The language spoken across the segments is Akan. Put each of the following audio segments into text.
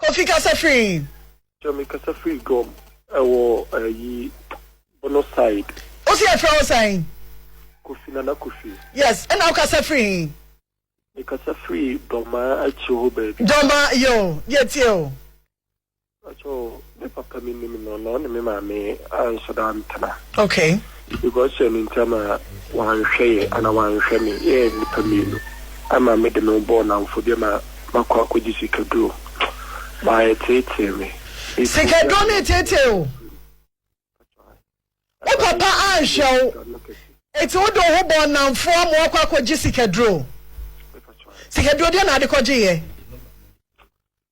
Kofi kasa firi. Sir me kasa firi Gom ɛwɔ ayi bono side. Wo se yɛfrɛ wo sɛn? Kofi Nana Kofi. Yes ɛna wo kasa firi he? Me kasa firi Dɔmaa akyire hɔ baabi. Dɔmaa yoo yɛ tie o. Mpakyɛw me papa me nim no na ɔne me maame anso da ntena. Okay. Because sɛ me ntam a wanhwɛ yɛ anaa wanhwɛ me yɛ nnipa mmienu ama me de me ho bɔɔ nnamfo deɛ ma makɔ akɔgye sikaduro ma ɛteetee me ɛfiri sɛ Sikaduro na ɛteetee wo? Wo papa anhwɛ wo ɛti wode wo ho bɔɔ nnamfo ama wakɔ akɔgye sikaduro? Sikaduro deɛ na ade kɔgye yɛ?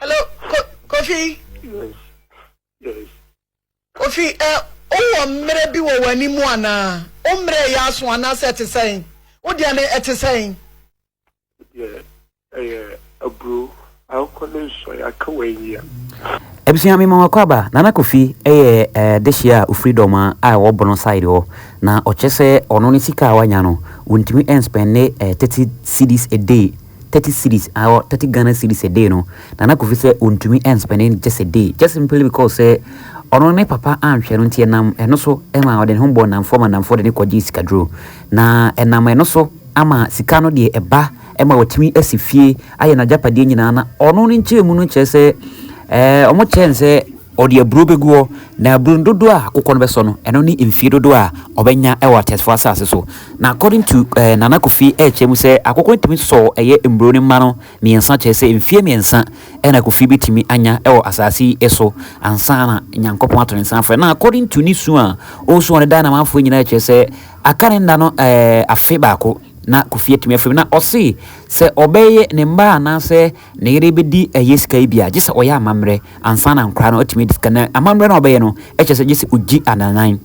Hello, ko, Kofi. Yes, yes. Kofi, ɛ, wowɔ mmerɛ bi wɔ w'anim anaa? Wo mmerɛ yɛ aso anaasɛ ɛte sɛn? Wo deɛ no ɛte sɛn? Deɛ ɛyɛ aburo, akokɔ ne nsɔ, yɛaka wɔ anyia. Abusua mema wakɔ aba Nana Kofi yɛ eh, dehyeɛ a ofiri dɔma a ɛwɔ bono side hɔ na ɔkyɛ sɛ ɔno ne sika a wanya no wɔntumi nspɛnde eh, 30 cedis a day 30 cedis or 30 Ghana cedis a day no Nana Kofi sɛ ɔntumi nspɛnde no just a day just simply because sɛ ɔno ne papa anhwɛ no nti ɛnam ɛno so ma ɔde ne ho bɔɔ nnamfoɔ ma nnamfoɔ de ne kɔgyee sikaduro na ɛnam ɛno so ama sika no deɛ ɛba ɛma watumi asi fie ayɛ n'agyapadeɛ nyinaa na ɔno ne nkyerɛmu no kyerɛ sɛ ɛɛ wɔkyerɛ no sɛ Ɔde aburow begu hɔ, na aburow no dodoɔ a akokɔ no bɛsɔ no, ɛno ne mfie dodoɔ a ɔbɛnya wɔ atɛsfoɔ asase so. Na according to eh, Nana Kofi ɛrekyerɛ mu sɛ akokɔ no tumi sɔ ɛyɛ mburow no mma no mmiɛnsa kyerɛ sɛ mfie mmiɛnsa ɛna Kofi bɛtumi anya ɛwɔ asase yi ɛso ansa na Nyankopɔn ato ne nsa afrɛ. Na according to ne su a ɔresu ɔne Daa Namanfoɔ nyinaa ɛkyerɛ sɛ aka ne nna no eh, afe baako na Kofi atumi afiri mu. Na ɔse sɛ ɔbɛyɛ ne mma anaasɛ ne yere bɛdi ɛyɛ sika yi bi a, gye sɛ ɔyɛ amammerɛ ansa na nkora no atumi adi sika. Na amammerɛ no a ɔbɛyɛ no kyerɛ sɛ gye sɛ ɔgyi ananan,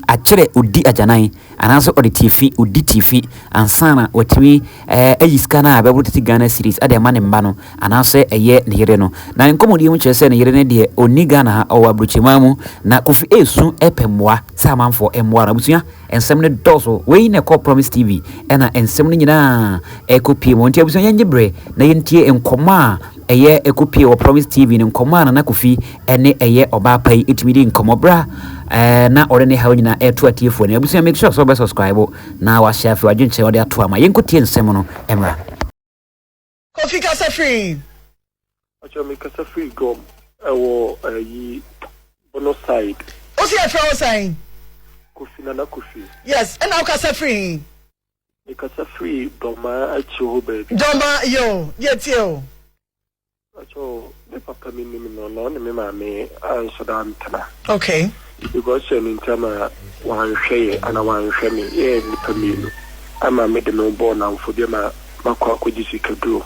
akyerɛ ɔdi agyanan, anaasɛ ɔde tiafi, ɔdi tiafi ansa na watumi ayi sika no a bɛboro tete Ghana series de ama ne mma no anaasɛ ɛyɛ ne yere no. Na nkɔmmɔdie mu kyerɛ sɛ ne yere no deɛ ɔnni Ghana ha, ɔwɔ aburokyireman mu. Na Kofi ɛresu pɛ mmoa sɛ amanfoɔ mmoa no. Abusua. Nsɛm no dɔɔso. Wei na ɛkɔ Promise TV ɛna nsɛm no nyinaa ɛkɔ pie mu. Nti abusua yɛnye bere na yɛntie nkɔmɔ a ɛyɛ ɛkɔ pie wɔ Promise TV no nkɔmɔ a Nana Kofi ɛne ɛyɛ ɔbaa pa yi ɛtumi di nkɔmɔ bere a ɛɛ na ɔde ne haw nyinaa ɛɛto atiefoɔ anim. Abusua make sure sɛ wobɛ subscribe na wahyɛ afei wadwenkyerɛ ɔde ato ama. Yɛnkɔ tie nsɛm no mmra. Kofi kasa firi. Pacho me kasa firi gom ɛwɔ ayi bono side. Ose yɛfrɛ wo sɛn? Kofi nana kofi. Yes ɛna wo kasa firi he? Me kasa firi dɔmaa akyire hɔ baabi. Dɔmaa yoo yɛtie o. Pacho Me papa me nim no na ɔne me maame anso da antena. Okay. Because sɛ ne ntam a wanhwɛ yɛ ana wanhwɛ me yɛ nipa mmienu ama me de me ho bɔɔ namfo deɛ ma makɔ akɔgye sikaduro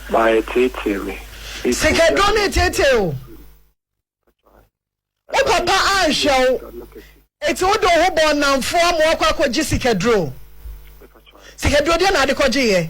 ma ɛteetee me. Sikaduro ne tetee o. Wo papa anhwɛ wo eti wo de wo ho bɔɔ namfo ama wakɔ akɔgye sikaduro. Sikaduro deɛ na ade kɔgye yɛ.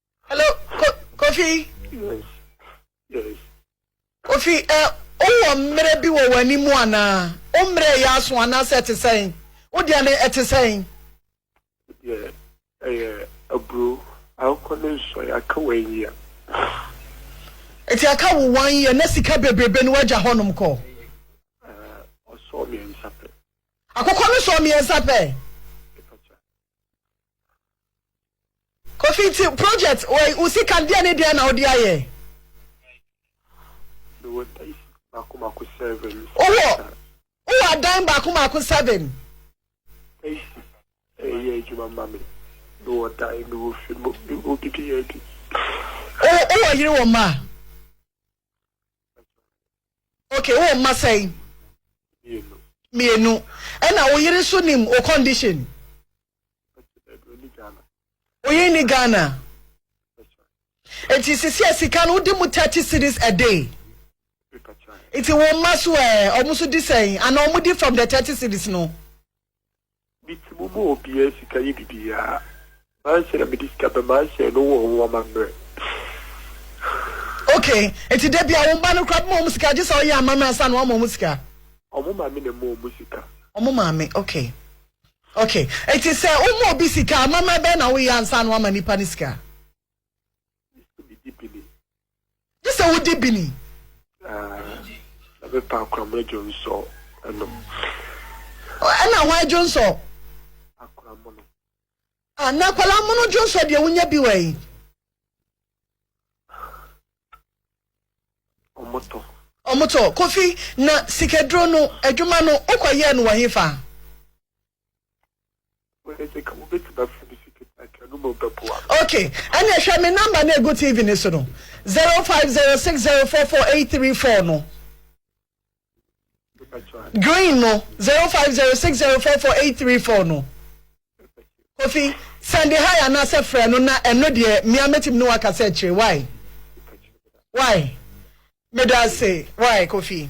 Hello, ko, Kofi. Yes, yes. Kofi, ɛ, wowɔ mmerɛ bi wɔ w'anim anaa? Wo mmerɛ yɛ aso anaasɛ ɛte sɛn? Wo deɛ no ɛte sɛn? Deɛ ɛyɛ aburo, akokɔ ne nsɔe, aka one year. Eti aka wo one year na sika bebrebe no wagya hɔnom kɔ? Ɔsɔɔ mmiɛnsa pɛ. Akokɔ no sɔɔ mmiɛnsa pɛ? Kofi nti project wei wo sika deɛ ne deɛ na wode ayɛ. Mewɔ dan baako baako seven. Wowɔ wowɔ adan baako baako seven. Taxi ɛyɛ adwuma ma me. Mewɔ dan mewɔ fi mo mewɔ didi yɛ adi. Wowɔ yere wɔ mma. Okay wowɔ mma sɛn. Mmienu. Mmienu ɛna wo yere nso nim o condition. Oye ni Ghana. Eti sisi a sika no wodi mu 30 cities a day. Eti wo mma so ɛ, eh, ɔmo so di sɛn? Ana ɔmo di from the 30 cities no? Miti mu mu obiara sika yi bibiara. Manhyɛ na mede sika bɛ manhyɛ no wɔ ho amammerɛ. Okay, eti da bia wo mma no kora bɛma ɔmo sika gye sɛ ɔyɛ amammerɛ ansa na wama ɔmo sika? Ɔmo maame na ɛma ɔmo sika. Ɔmo maame, okay. Ok nti sɛ wo ma obi sika a amammerɛ bɛn na wo yɛ ansa na wama nipa no sika? Gye sɛ wo di bini. Ɛbɛ pa akoramo dwonsɔ nom. Ɛna hwan dwonsɔ? Akoramo no. Ah na akwadaa mono dwonsɔ deɛ wonya bi wɔ yi. Ɔmo tɔ. Ɔmo tɔ. Kofi, na sikaduro no adwuma no wo kɔ yɛɛ no wɔ he fa? Ok, ɛneɛ hwɛ me number no ɛgu TV no so no, 0506044834 no. green no zero five zero six zero four four eight three four no kofi sɛnde ha yɛ anaasɛ frɛ no na ɛno deɛ mmea mɛtumi ne waka sɛ akyire wae wae meda ase wae kofi